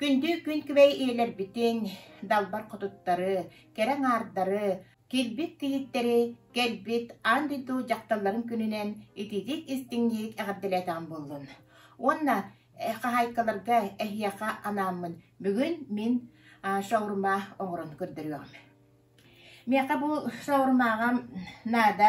Күндү күн күбэй ийэлэрбитин, далбар хотуттары, кэрэ аҥаардары, килбит кийииттэри, кэлбит аан дойду дьахталларын күнүнэн итиитик истиҥник эҕэрдэлээтэҕим буоллун. Уонна хаһаайкаларга эһиэхэ анааммын бүгүн мин шаурма оҥорон көрдөрүөҕүм. Миэхэ бу шаурмаҕа наада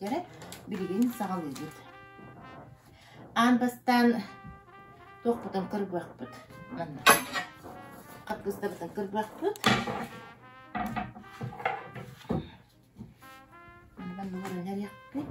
Дьэ, билигин саҕалыыбыт. Аан бастаан туохпутун кырбыахпыт манна. Хапгыстабытын кырбыахпыт. Онон булан иҥэриэхпит.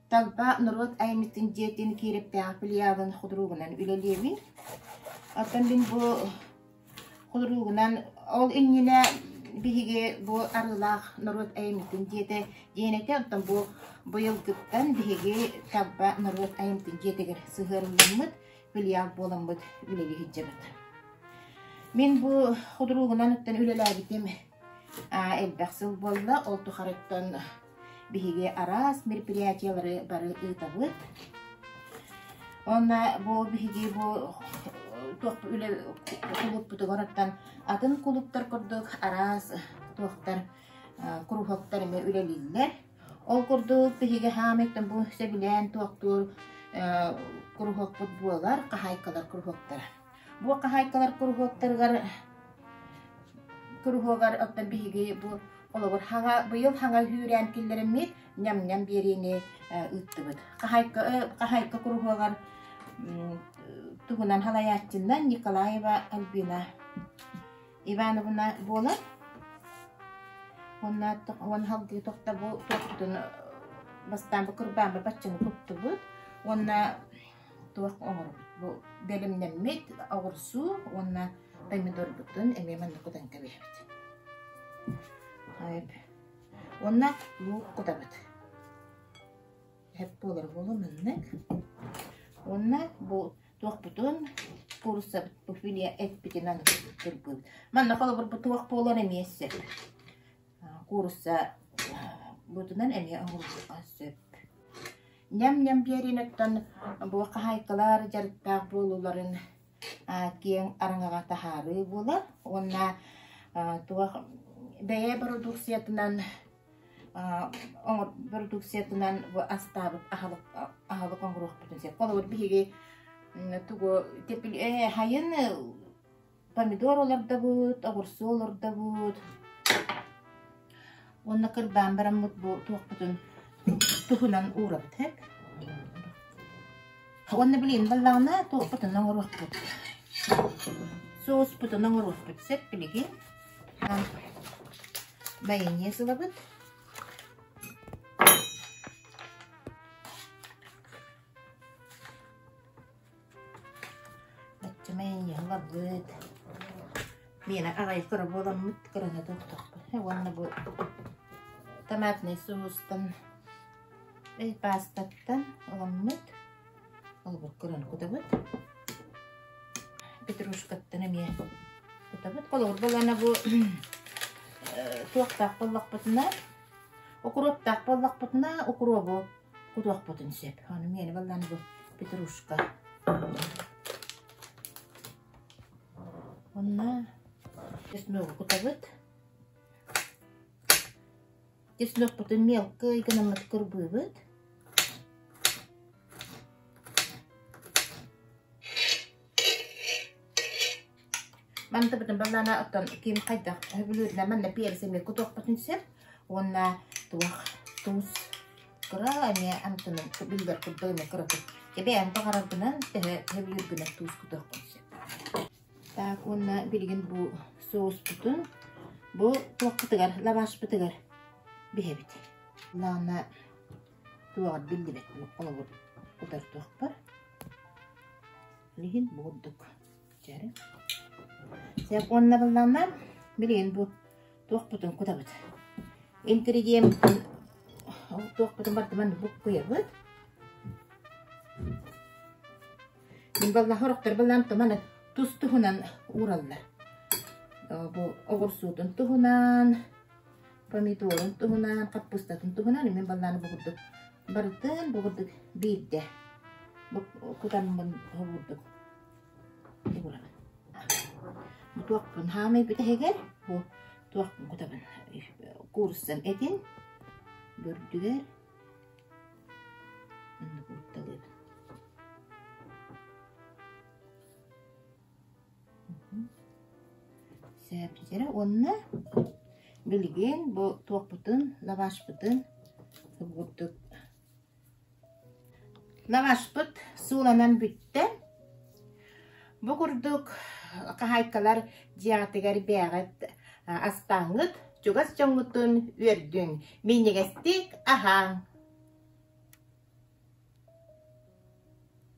Талба норуот аймиттин дьиэтин Киирэптээх филиалын худуругунан үлэлиэбин. Оттон мин бу худуругунан ол иннинэ биһиги бу Арыылаах норуот аймиттин дьиэтэ дьиэн этэ, оттон бу быйылгыттан биһиги Талба норуот аймиттин дьиэтигэр сыһыарылламмыт филиал буоламмыт үлэни иһитдьэбит. Мин бу худуругунан уттан үлэлээбитим а, элбэх сыл буолла, ол тухарыттан биһиги араас мероприятиелары бары ыытабыт. Онно бу биһиги бу туох үлэ кулуппутугар оттон атын кулуптар курдук араас туохтан куруһуоктар эмэ үлэлииллэр. Ол курдук биһиги хаамыттан бу сөбүлээн туохтуур куруһуокпут буолар, хаһайкалар куруһуоктара. Бу хаһаайкалар куруһуоктарыгар куруһуогар оттон биһиги бу олобур хаҥа быйыл хаҥа үүрээн киллэрэммит ням-ням биэриини ыыттыбыт. Хаһаайка хаһаайка куруһуогар туһунан халаяччыннан Николаева Альбина Ивановна буолар. Уонна уон халдыы тохта бу тохтутун бастаан бу кырбаан баччыны куттубут. Уонна туох оҕорум бу бэлэмнэммит оҕурсуу уонна помидорбутун эмиэ манныкытан кэбиһэбит. Уонна луук кутабыт. Эп буолара буолу маннык. Уонна бу туохпутун куурсабыт пуфилия эппитинэн кырбыыбыт. Манна холобурбут туох буолар эмиэ сөп. Куурусса быытынан эмиэ оҥоруохха сөп. Ньам-ньам биэрииниттэн бу хаһаайкалар дьарыктаах буолууларын киэҥ араҥаҕа таһаарыы буолар уонна туох бэйэ бородууксуйатынан бородууксуйатынан бу астаабыт аһылык аһылык оҥоруохпутун сөп. Холобур, биһиги тугу тепли хайын Помидор олордобут, обурсу олордобут уонна кырдаан бараммыт бу туохпутун туһунан уурабыт Уонна блин баллаҕаны туохпутун оҥоруохпут соуспутун оҥоруохпут сөп билигин майонез ылабыт Өччүмэй ыһылларбыт, миэнэ аҕай кыра буоламмыт кыраһыата тохтоппот уонна бу томатнай соустан, эй паастаттан ыламмыт, холобур кыраны кутабыт, петрушкаттан эмиэ кутабыт. Холобур буоллаҕына бу туохтаах буоллахпытына, укуруоптаах буоллахпытына укуруобу кутуохпутун сөп. Ону миэнэ баллаан бу петрушка. Онно чесногу кутабыт. Чеснокпутун мелкий гынаммыт кырбыыбыт. Мантыбытын баллаана оттон ким хайдах төһө бүлүүрүнэн манна пиэрсэмикэ утуохпутун сөп уонна туох туус кыра эмиэ амтанын биллэр курдук эмиэ кыратык кэбиэһин баҕараргынан төһө төһө бүлүүргүнэн туус кутуохпун сөп. Так уонна билигин бу соуспутун бу туохпутугар лавашпытыгар биһэбит. Баллаана туоҕар биллибэт олобур кутар туохпар. Билигин бу курдук. Сөп уонна буллаҕына билигин бу туохпутун кутабыт? Ингредиентпытын туохпутун бардыбан буккуйабыт. Мин баллаһа орохтор баллаам туманы тус туһунан уураллар. Бу оҕурсуутун туһунан, помидорун туһунан, хаппыстатын туһунан мен баллааны бу курдук барытын бу курдук биирдэ кутаммын курдук. Туохпун хаамай бүтэһигэр туохпун кутабын кууруссан этин бүрдүгэр онно куутталыыбын сээптитэрэ уонна билигин бу туохпутун лавашпытын курдук Лаҕаспыт сууланан бүттэн, бу курдук хаһаайкалар дьиэҕитигэр бээҕит астааҥҥыт, чугас дьоҥҥутун үөрдүҥ, минньигэстик аһааҥ!